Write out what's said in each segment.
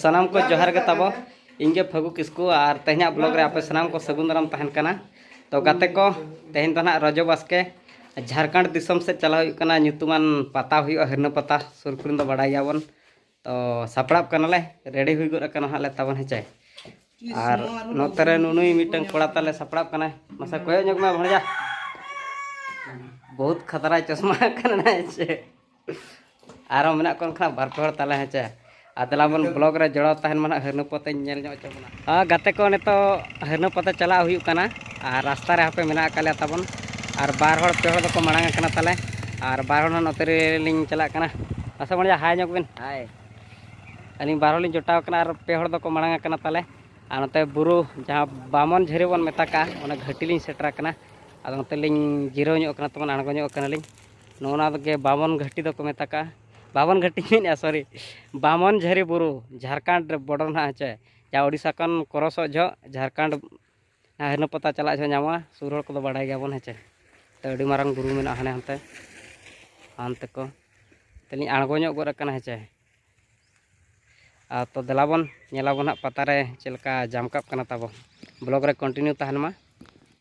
ᱥᱟᱱᱟᱢ ᱠᱚ ᱡᱚᱦᱟᱨ ᱜᱮ ᱛᱟᱵᱚ ᱤᱧ ᱜᱮ ᱯᱷᱟᱹᱜᱩ ᱠᱤᱥᱠᱩ ᱟᱨ ᱛᱮᱦᱮᱧᱟᱜ ᱵᱞᱚᱜ ᱨᱮ ᱟᱯᱮ ᱥᱟᱱᱟᱢ ᱠᱚ ᱥᱟᱹᱜᱩᱱ ᱫᱟᱨᱟᱢ ᱛᱟᱦᱮᱱ ᱠᱟᱱᱟ ᱛᱚ ᱜᱟᱛᱮ ᱠᱚ ᱛᱮᱦᱮᱧ ᱫᱚ ᱱᱟᱦᱟᱜ ᱨᱚᱡᱚ ᱵᱟᱥᱠᱮ ᱡᱷᱟᱲᱠᱷᱚᱸᱰ ᱫᱤᱥᱚᱢ ᱥᱮᱫ ᱪᱟᱞᱟᱣ ᱦᱩᱭᱩᱜ ᱠᱟᱱᱟ ᱧᱩᱛᱩᱢᱟᱱ ᱯᱟᱛᱟ ᱦᱩᱭᱩᱜᱼᱟ ᱦᱤᱨᱱᱟᱹ ᱯᱟᱛᱟ ᱥᱩᱨ ᱠᱚᱨᱮᱱ ᱫᱚ ᱵᱟᱲᱟᱭ ᱜᱮᱭᱟᱵᱚᱱ ᱛᱚ ᱥᱟᱯᱲᱟᱜ ᱠᱟᱱᱟᱞᱮ ᱨᱮᱰᱤ ᱦᱩᱭ ᱜᱚᱫ ᱟᱠᱟᱱᱟ ᱦᱟᱸᱜ ᱞᱮ ᱛᱟᱵᱚᱱ ᱦᱮᱸᱪᱮ ᱟᱨ ᱱᱚᱛᱮ ᱨᱮ ᱱᱩᱱᱩᱭ ᱢᱤᱫᱴᱟᱝ ᱠᱚᱲᱟ ᱛᱟᱞᱮ ᱥᱟᱯᱲᱟᱜ ᱠᱟᱱᱟᱭ ᱢᱟᱥᱮ ᱠᱚᱭᱚᱜ ᱧᱚᱜ ᱢᱮ ᱵᱷᱚᱲᱡᱟ ᱵᱚᱦᱩᱛ ᱠᱷᱟᱛᱨᱟᱭ ᱪᱚᱥᱢᱟ ᱠᱟᱱᱟ ᱦᱮᱸᱪᱮ ᱟᱨᱦᱚᱸ ᱢᱮᱱᱟᱜ ᱠᱚ ᱮᱱᱠᱷᱟᱱ ᱵᱟᱨ ᱯᱮ ᱦᱚᱲ ᱛᱟᱞᱮ ᱦᱮᱸᱪᱮ ᱟᱨ ᱫᱮᱞᱟ ᱵᱚᱱ ᱵᱞᱚᱜ ᱨᱮ ᱡᱚᱲᱟᱣ ᱛᱟᱦᱮᱱ ᱢᱟ ᱱᱟᱜ ᱦᱟᱹᱨᱱᱟᱹᱯᱚᱛᱮᱧ ᱧᱮᱞ ᱧᱚᱜ ᱦᱚᱪᱚ ᱵᱚᱱᱟ ᱦᱮᱸ ᱜᱟᱛᱮ ᱠᱚ ᱱᱤᱛᱚᱜ ᱦᱟᱹᱨᱱᱟᱹᱯᱚᱛᱮ ᱪᱟᱞᱟᱜ ᱦᱩᱭᱩᱜ ᱠᱟᱱᱟ ᱟᱨ ᱨᱟᱥᱛᱟ ᱨᱮ ᱦᱟᱯᱮ ᱢᱮᱱᱟᱜ ᱟᱠᱟᱫ ᱞᱮᱭᱟ ᱛᱟᱵᱚᱱ ᱟᱨ ᱵᱟᱨ ᱦᱚᱲ ᱯᱮ ᱦᱚᱲ ᱫᱚᱠᱚ ᱢᱟᱲᱟᱝ ᱟᱠᱟᱱᱟ ᱛᱟᱞᱮ ᱟᱨ ᱵᱟᱨ ᱦᱚᱲ ᱱᱚᱛᱮ ᱨᱮᱞᱤᱧ ᱪᱟᱞᱟᱜ ᱠᱟᱱᱟ ᱢᱟᱥᱮ ᱵᱚᱱ ᱦᱟᱭ ᱧᱚᱜ ᱵᱤᱱ ᱦᱟᱭ ᱟᱹᱞᱤᱧ ᱵᱟᱨ ᱦᱚᱲᱞᱤᱧ ᱡᱚᱴᱟᱣ ᱠᱟᱱᱟ ᱟᱨ ᱯᱮ ᱦᱚᱲ ᱫᱚᱠᱚ ᱢᱟᱲᱟᱝ ᱟᱠᱟᱱᱟ ᱛᱟᱞᱮ ᱟᱨ ᱱᱚᱛᱮ ᱵᱩᱨᱩ ᱡᱟᱦᱟᱸ ᱵᱟᱢᱚᱱ ᱡᱷᱟᱹᱨᱤ ᱵᱚᱱ ᱢᱮᱛᱟ ᱠᱟᱜᱼᱟ ᱚᱱᱟ ᱜᱷᱟᱹᱴᱤ ᱞᱤᱧ ᱥᱮᱴᱮᱨ ᱟᱠᱟᱱᱟ ᱟᱫᱚ ᱱᱚᱛᱮ ᱞᱤᱧ ᱡᱤᱨᱟᱹᱣ ᱧᱚᱜ ᱠᱟᱱᱟ ᱛᱟᱵᱚᱱ ᱟᱬᱜᱚ ᱧᱚᱜ ᱠᱟᱱᱟᱞᱤᱧ ᱱᱚᱣᱟ ᱫᱚ ᱵᱟᱢᱚᱱ ᱜᱷᱟᱹᱴᱤ ᱫᱚᱠᱚ ᱢᱮᱛᱟᱜᱼᱟ ᱵᱟᱢᱚᱱ ᱜᱷᱟᱹᱴᱤ ᱢᱮᱱᱮᱫᱼᱟ ᱥᱚᱨᱤ ᱵᱟᱢᱚᱱ ᱡᱷᱟᱹᱨᱤ ᱵᱩᱨᱩ ᱡᱷᱟᱲᱠᱷᱚᱸᱰ ᱨᱮ ᱵᱚᱰᱚᱨ ᱱᱟᱦᱟᱜ ᱦᱮᱸᱥᱮ ᱡᱟᱦᱟᱸ ᱳᱰᱤᱥᱟ ᱠᱷᱚᱱ ᱠᱨᱚᱥᱚᱜ ᱡᱚᱦᱚᱜ ᱡᱷᱟᱲᱠᱷᱚᱸᱰ ᱦᱟᱭᱱᱟ ᱯᱟᱛᱟ ᱪᱟᱞᱟᱜ ᱡᱚᱦᱚᱜ ᱧᱟᱢᱚᱜᱼᱟ ᱥᱩᱨ ᱦᱚᱲ ᱠᱚᱫᱚ ᱵᱟᱰᱟᱭ ᱜᱮᱭᱟᱵᱚᱱ ᱦᱮᱸᱥᱮ ᱛᱚ ᱟᱹᱰᱤ ᱢᱟᱨᱟᱝ ᱵᱩᱨᱩ ᱢᱮᱱᱟᱜᱼᱟ ᱦᱟᱱᱮ ᱦᱟᱱᱛᱮ ᱦᱟᱱᱛᱮ ᱠᱚ ᱛᱟᱹᱞᱤᱧ ᱟᱬᱜᱚ ᱧᱚᱜ ᱜᱚᱫ ᱟᱠᱟᱱᱟ ᱦᱮᱸᱥᱮ ᱟᱨ ᱛᱚ ᱫᱮᱞᱟ ᱵᱚᱱ ᱧᱮᱞᱟᱵᱚᱱ ᱦᱟᱸᱜ ᱯᱟᱛᱟ ᱨᱮ ᱪᱮᱫ ᱞᱮᱠᱟ ᱡᱟᱢᱠᱟᱜ ᱠᱟᱱᱟ ᱛᱟᱵᱚ ᱵᱞᱚᱜᱽ ᱨᱮ ᱠᱚᱱᱴᱤᱱᱤᱭᱩ ᱛᱟᱦᱮᱱ ᱢᱟ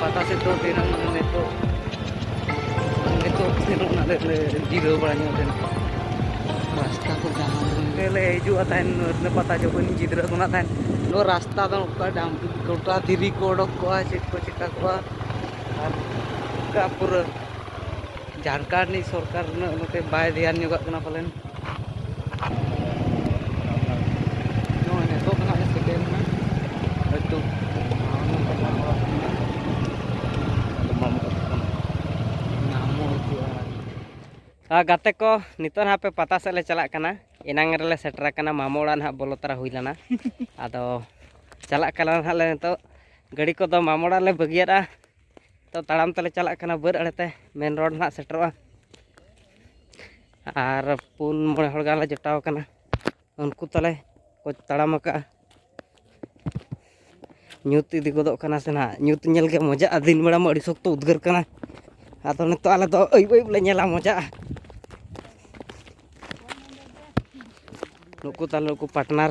ᱯᱟᱛᱟ ᱥᱮᱫ ᱫᱚ ᱫᱤᱱᱟᱹᱢ ᱱᱤᱛᱚᱜ ᱱᱤᱛᱚᱜ ᱥᱮᱱᱚᱜ ᱱᱟᱞᱮ ᱞᱮ ᱡᱤᱨᱟᱹᱣ ᱵᱟᱲᱟ ᱧᱚᱜ ᱞᱮᱱᱟ ᱨᱟᱥᱛᱟ ᱠᱚ ᱡᱟᱦᱟᱸ ᱞᱮ ᱦᱤᱡᱩᱜᱼᱟ ᱛᱟᱦᱮᱱ ᱯᱟᱛᱟ ᱡᱚᱠᱷᱚᱱ ᱜᱤᱫᱽᱨᱟᱹ ᱠᱷᱚᱱᱟᱜ ᱛᱟᱦᱮᱱ ᱱᱚᱣᱟ ᱨᱟᱥᱛᱟ ᱫᱚ ᱚᱱᱠᱟ ᱰᱟᱢ ᱜᱚᱴᱟ ᱫᱷᱤᱨᱤ ᱠᱚ ᱚᱰᱚᱠ ᱠᱚᱜᱼᱟ ᱪᱮᱫ ᱠᱚ ᱪᱮᱠᱟ ᱠᱚᱜᱼᱟ ᱟᱨ ᱚᱱᱠᱟ ᱯᱩᱨᱟᱹ ᱡᱷᱟᱲᱠᱷᱚᱸᱰ ᱨᱤᱱᱤᱡ ᱥᱚᱨᱠᱟᱨ ᱩᱱᱟᱹᱜ ᱱᱚᱛᱮ ᱵᱟᱭ ᱫᱷᱮᱭᱟᱱ ᱧᱚᱜᱟᱜ ᱠᱟᱱᱟ ᱯᱟᱞᱮᱱ ᱱᱚᱜᱼᱚᱭ ᱱᱤᱛᱚᱜ ᱫᱚ ᱦᱟᱸᱜ ᱥᱮᱴᱮᱨ ᱮᱱᱟ ᱦᱚᱭᱛᱳ ᱜᱟᱛᱮ ᱠᱚ ᱱᱤᱛᱚᱜ ᱦᱟᱸᱜ ᱯᱮ ᱯᱟᱛᱟ ᱥᱮᱫ ᱞᱮ ᱪᱟᱞᱟᱜ ᱠᱟᱱᱟ ᱮᱱᱟᱝ ᱨᱮᱞᱮ ᱥᱮᱴᱮᱨ ᱟᱠᱟᱱᱟ ᱢᱟᱢᱚ ᱚᱲᱟᱜ ᱱᱟᱦᱟᱜ ᱵᱚᱞᱚ ᱛᱟᱨᱟ ᱦᱩᱭ ᱞᱮᱱᱟ ᱟᱫᱚ ᱪᱟᱞᱟᱜ ᱠᱟᱱᱟ ᱱᱟᱦᱟᱜ ᱞᱮ ᱱᱤᱛᱚᱜ ᱜᱟᱹᱰᱤ ᱠᱚᱫᱚ ᱢᱟᱢᱚ ᱚᱲᱟᱜ ᱨᱮᱞᱮ ᱵᱟᱹᱜᱤᱭᱟᱫᱼᱟ ᱛᱚ ᱛᱟᱲᱟᱢ ᱛᱮᱞᱮ ᱪᱟᱞᱟᱜ ᱠᱟᱱᱟ ᱵᱟᱹᱫᱽ ᱟᱲᱮᱛᱮ ᱢᱮᱱ ᱨᱳᱰ ᱱᱟᱦᱟᱜ ᱥᱮᱴᱮᱨᱚᱜᱼᱟ ᱟᱨ ᱯᱩᱱ ᱢᱚᱬᱮ ᱦᱚᱲ ᱜᱟᱱ ᱞᱮ ᱡᱚᱴᱟᱣ ᱠᱟᱱᱟ ᱩᱱᱠᱩ ᱛᱟᱞᱮ ᱠᱚ ᱛᱟᱲᱟᱢ ᱟᱠᱟᱜᱼᱟ ᱧᱩᱛ ᱤᱫᱤ ᱜᱚᱫᱚᱜ ᱠᱟᱱᱟ ᱥᱮ ᱱᱟᱦᱟᱜ ᱧᱩᱛ ᱧᱮᱞ ᱜᱮ ᱢᱚᱡᱟᱜᱼᱟ ᱫᱤᱱ ᱵᱮᱲᱟ ᱢᱟ ᱟᱹᱰᱤ ᱥᱚᱠᱛᱚ ᱩᱫᱽᱜᱟᱹᱨ ᱠᱟᱱᱟ ᱟᱫᱚ ᱱᱤᱛᱚᱜ ᱟᱞᱮ ᱫᱚ ᱟᱹᱭᱩᱵ ᱟᱹᱭᱩᱵ ᱞᱮ ᱧᱮᱞᱟ ᱢᱚᱡᱟᱜᱼᱟ ᱱᱩᱠᱩ ᱛᱟᱞᱮ ᱱᱩᱠᱩ ᱯᱟᱴᱱᱟᱨ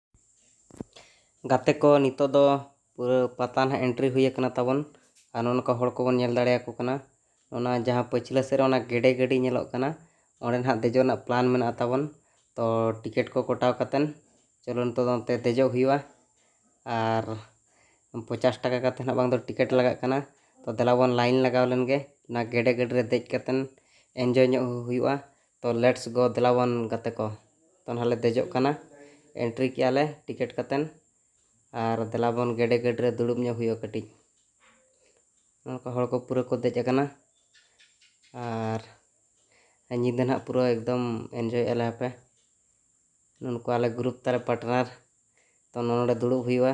ᱜᱟᱛᱮ ᱠᱚ ᱱᱤᱛᱚᱜ ᱫᱚ ᱯᱩᱨᱟᱹ ᱯᱟᱛᱟ ᱱᱟᱦᱟᱜ ᱮᱱᱴᱨᱤ ᱦᱩᱭ ᱟᱠᱟᱱᱟ ᱛᱟᱵᱚᱱ ᱟᱨ ᱱᱚᱜᱼᱚ ᱱᱚᱝᱠᱟ ᱦᱚᱲ ᱠᱚᱵᱚᱱ ᱧᱮᱞ ᱫᱟᱲᱮᱭᱟᱠᱚ ᱠᱟᱱᱟ ᱚᱱᱟ ᱡᱟᱦᱟᱸ ᱯᱟᱹᱪᱷᱞᱟᱹ ᱥᱮᱫ ᱨᱮ ᱚᱱᱟ ᱜᱮᱰᱮ ᱜᱟᱹᱰᱤ ᱧᱮᱞᱚᱜ ᱠᱟᱱᱟ ᱚᱸᱰᱮ ᱱᱟᱦᱟᱜ ᱫᱮᱡᱚᱜ ᱨᱮᱱᱟᱜ ᱯᱞᱟᱱ ᱢᱮᱱᱟᱜᱼᱟ ᱛᱟᱵᱚᱱ ᱛᱚ ᱴᱤᱠᱮᱴ ᱠᱚ ᱠᱚᱴᱟᱣ ᱠᱟᱛᱮᱫ ᱪᱚᱞᱚ ᱱᱤᱛᱚᱜ ᱫᱚ ᱚᱱᱛᱮ ᱫᱮᱡᱚᱜ ᱦᱩᱭᱩᱜᱼᱟ ᱟᱨ ᱯᱚᱪᱟᱥ ᱴᱟᱠᱟ ᱠᱟᱛᱮᱫ ᱱᱟᱦᱟᱜ ᱵᱟᱝ ᱫᱚ ᱴᱤᱠᱮᱴ ᱞᱟᱜᱟᱜ ᱠᱟᱱᱟ ᱛᱚ ᱫᱮᱞᱟ ᱵᱚᱱ ᱞᱟᱭᱤᱱ ᱞᱟᱜᱟᱣ ᱞᱮᱱ ᱜᱮ ᱚᱱᱟ ᱜᱮᱰᱮ ᱜᱟᱹᱰᱤ ᱨᱮ ᱫᱮᱡ ᱠᱟᱛᱮᱫ ᱮᱱᱡᱚᱭ ᱧᱚᱜ ᱦᱩᱭᱩᱜᱼᱟ ᱛᱚ ᱞᱮᱴᱥ ᱜᱳ ᱫᱮᱞᱟ ᱵᱚᱱ ᱜᱟᱛᱮ ᱠᱚ ᱛᱚ ᱱᱟᱦᱟᱜ ᱞᱮ ᱫᱮᱡᱚᱜ ᱠᱟᱱᱟ ᱮᱱᱴᱨᱤ ᱠᱮᱜᱼᱟ ᱞᱮ ᱴᱤᱠᱮᱴ ᱠᱟᱛᱮᱫ ᱟᱨ ᱫᱮᱞᱟ ᱵᱚᱱ ᱜᱮᱰᱮ ᱜᱟᱹᱰᱤ ᱨᱮ ᱫᱩᱲᱩᱵ ᱧᱚᱜ ᱦᱩᱭᱩᱜᱼᱟ ᱠᱟᱹᱴᱤᱡ ᱱᱚᱝᱠᱟ ᱦᱚᱲ ᱠᱚ ᱯᱩᱨᱟᱹ ᱠᱚ ᱫᱮᱡ ᱟᱠᱟᱱᱟ ᱟᱨ ᱧᱤᱫᱟᱹ ᱱᱟᱦᱟᱜ ᱯᱩᱨᱟᱹ ᱮᱠᱫᱚᱢ ᱮᱱᱡᱚᱭ ᱮᱜᱼᱟ ᱞᱮ ᱦᱟᱯᱮ ᱱᱩᱠᱩ ᱟᱞᱮ ᱜᱨᱩᱯ ᱛᱟᱞᱮ ᱯᱟᱨᱴᱱᱟᱨ ᱛᱚ ᱱᱚᱰᱮ ᱫᱩᱲᱩᱵ ᱦᱩᱭᱩᱜᱼᱟ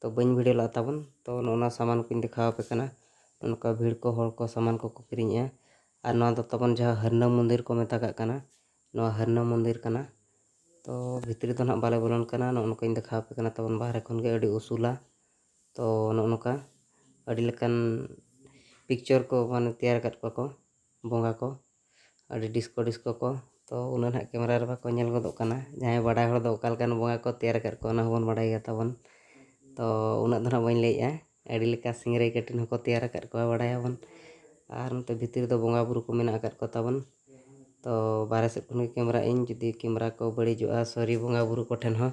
ᱛᱚ ᱵᱟᱹᱧ ᱵᱷᱤᱰᱤᱭᱳ ᱞᱟᱜᱼᱟ ᱛᱟᱵᱚᱱ ᱛᱚ ᱱᱚᱜᱼᱚᱱᱟ ᱥᱟᱢᱟᱱ ᱠᱚᱧ ᱫᱮᱠᱷᱟᱣ ᱟᱯᱮ ᱠᱟᱱᱟ ᱱᱚᱝᱠᱟ ᱵᱷᱤᱲ ᱠᱚ ᱦᱚᱲ ᱠᱚ ᱥᱟᱢᱟᱱ ᱠᱚᱠᱚ ᱠᱤᱨᱤᱧᱮᱜᱼᱟ ᱟᱨ ᱱᱚᱣᱟ ᱫᱚ ᱛᱟᱵᱚᱱ ᱡᱟᱦᱟᱸ ᱦᱟᱹᱨᱱᱟᱹ ᱢᱚᱱᱫᱤᱨ ᱠᱚ ᱢᱮᱛᱟᱜᱟᱜ ᱠᱟᱱᱟ ᱱᱚᱣᱟ ᱦᱟᱹᱨᱱᱟᱹ ᱢᱚᱱᱫᱤᱨ ᱠᱟᱱᱟ ᱛᱚ ᱵᱷᱤᱛᱨᱤ ᱫᱚ ᱱᱟᱦᱟᱜ ᱵᱟᱞᱮ ᱵᱚᱞᱚᱱ ᱠᱟᱱᱟ ᱱᱚᱜᱼᱚ ᱱᱚᱝᱠᱟᱧ ᱫᱮᱠᱷᱟᱣ ᱟᱯᱮ ᱠᱟᱱᱟ ᱛᱟᱵᱚᱱ ᱵᱟᱦᱨᱮ ᱠᱷᱚᱱ ᱜᱮ ᱟᱹᱰᱤ ᱩᱥᱩᱞᱟ ᱛᱚ ᱱᱚᱜᱼᱚ ᱱᱚᱝᱠᱟ ᱟᱹᱰᱤ ᱞᱮᱠᱟᱱ ᱯᱤᱠᱪᱚᱨ ᱠᱚ ᱢᱟᱱᱮ ᱛᱮᱭᱟᱨ ᱟᱠᱟᱫ ᱠᱚᱣᱟ ᱠᱚ ᱵᱚᱸᱜᱟ ᱠᱚ ᱟᱹᱰᱤ ᱰᱤᱥᱠᱳ ᱰᱤᱥᱠᱳ ᱠᱚ ᱛᱚ ᱩᱱᱟᱹᱜ ᱱᱟᱦᱟᱜ ᱠᱮᱢᱮᱨᱟ ᱨᱮ ᱵᱟᱠᱚ ᱧᱮᱞ ᱜᱚᱫᱚᱜ ᱠᱟᱱᱟ ᱡᱟᱦᱟᱸᱭ ᱵᱟᱰᱟᱭ ᱦᱚᱲ ᱫᱚ ᱚᱠᱟ ᱞᱮᱠᱟᱱ ᱵᱚᱸᱜᱟ ᱠᱚ ᱛᱮᱭᱟᱨ ᱟᱠᱟᱫ ᱠᱚᱣᱟ ᱚᱱᱟ ᱦᱚᱸᱵᱚᱱ ᱵᱟᱰᱟᱭ ᱜᱮᱭᱟ ᱛᱟᱵᱚᱱ ᱛᱚ ᱩᱱᱟᱹᱜ ᱫᱚ ᱱᱟᱦᱟᱜ ᱵᱟᱹᱧ ᱞᱟᱹᱭᱮᱫᱼᱟ ᱟᱹᱰᱤ ᱞᱮᱠᱟ ᱥᱤᱝᱨᱟᱹᱭ ᱠᱟᱹᱴᱤᱱ ᱦᱚᱸᱠᱚ ᱛᱮᱭᱟᱨ ᱟᱠᱟᱫ ᱠᱚᱣᱟ ᱵᱟᱰᱟᱭᱟᱵᱚᱱ ᱟᱨ ᱱᱚᱛᱮ ᱵᱷᱤᱛᱤᱨ ᱨᱮᱫᱚ ᱵᱚᱸᱜᱟ ᱵᱩᱨᱩ ᱠᱚ ᱢᱮᱱᱟᱜ ᱟᱠᱟᱫ ᱠᱚᱛᱟᱵᱚᱱ ᱛᱚ ᱵᱟᱦᱨᱮ ᱥᱮᱫ ᱠᱷᱚᱱ ᱜᱮ ᱠᱮᱢᱮᱨᱟᱭᱮᱫᱼᱟᱹᱧ ᱡᱩᱫᱤ ᱠᱮᱢᱮᱨᱟ ᱠᱚ ᱵᱟᱹᱲᱤᱡᱚᱜᱼᱟ ᱥᱚᱨᱤ ᱵᱚᱸᱜᱟ ᱵᱩᱨᱩ ᱠᱚᱴᱷᱮᱱ ᱦᱚᱸ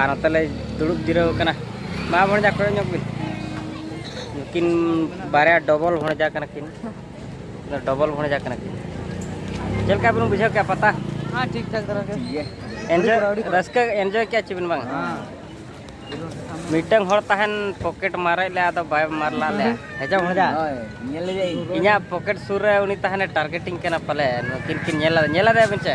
ᱟᱨ ᱱᱚᱛᱮ ᱞᱮ ᱫᱩᱲᱩᱵ ᱡᱤᱨᱟᱹᱣ ᱠᱟᱱᱟ ᱢᱟ ᱵᱷᱚᱬᱡᱟ ᱠᱚᱭᱚᱜ ᱧᱚᱜ ᱵᱤᱱ ᱱᱩᱠᱤᱱ ᱵᱟᱨᱭᱟ ᱰᱚᱵᱚᱞ ᱵᱷᱚᱬᱡᱟ ᱠᱟᱱᱟ ᱠᱤᱱ ᱰᱚᱵᱚᱞ ᱵᱷᱚᱬᱡᱟ ᱠᱟᱱᱟ ᱠᱤᱱ ᱪᱮᱫ ᱞᱮᱠᱟ ᱵᱤᱱ ᱵᱩᱡᱷᱟᱹᱣ ᱠᱮᱜᱼᱟ ᱯᱟᱛᱟ ᱦᱮᱸ ᱴᱷᱤᱠ ᱴᱷᱟᱠ ᱫᱷᱟᱨᱟ ᱜᱮ ᱮᱱᱡᱚᱭ ᱨᱟᱹᱥᱠᱟᱹ ᱮᱱᱡᱚᱭ ᱠᱮᱜᱼᱟ ᱪᱮ ᱵᱤᱱ ᱵᱟᱝ ᱢᱤᱫᱴᱟᱝ ᱦᱚᱲ ᱛᱟᱦᱮᱱ ᱯᱚᱠᱮᱴ ᱢᱟᱨᱮ ᱞᱮ ᱟᱫᱚ ᱵᱟᱭ ᱢᱟᱨ ᱞᱟ ᱞᱮ ᱦᱮᱡᱟ ᱵᱷᱚᱬᱡᱟ ᱤᱧᱟᱹᱜ ᱯᱚᱠᱮᱴ ᱥᱩᱨ ᱨᱮ ᱩᱱᱤ ᱛᱟᱦᱮᱱᱮ ᱴᱟᱨᱜᱮᱴᱤᱝ ᱠᱟᱱᱟ ᱯᱟᱞᱮ ᱱᱩᱠᱤᱱ ᱠᱤᱱ ᱧᱮᱞ ᱧᱮᱞ ᱟᱫᱮᱭᱟ ᱵᱤᱱ ᱪᱮ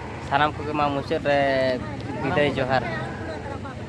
ᱥᱟᱱᱟᱢ ᱠᱚᱜᱮ ᱢᱟ ᱢᱩᱪᱟᱹᱫ ᱨᱮ ᱵᱤᱫᱟᱹᱭ ᱡᱚᱦᱟᱨ᱾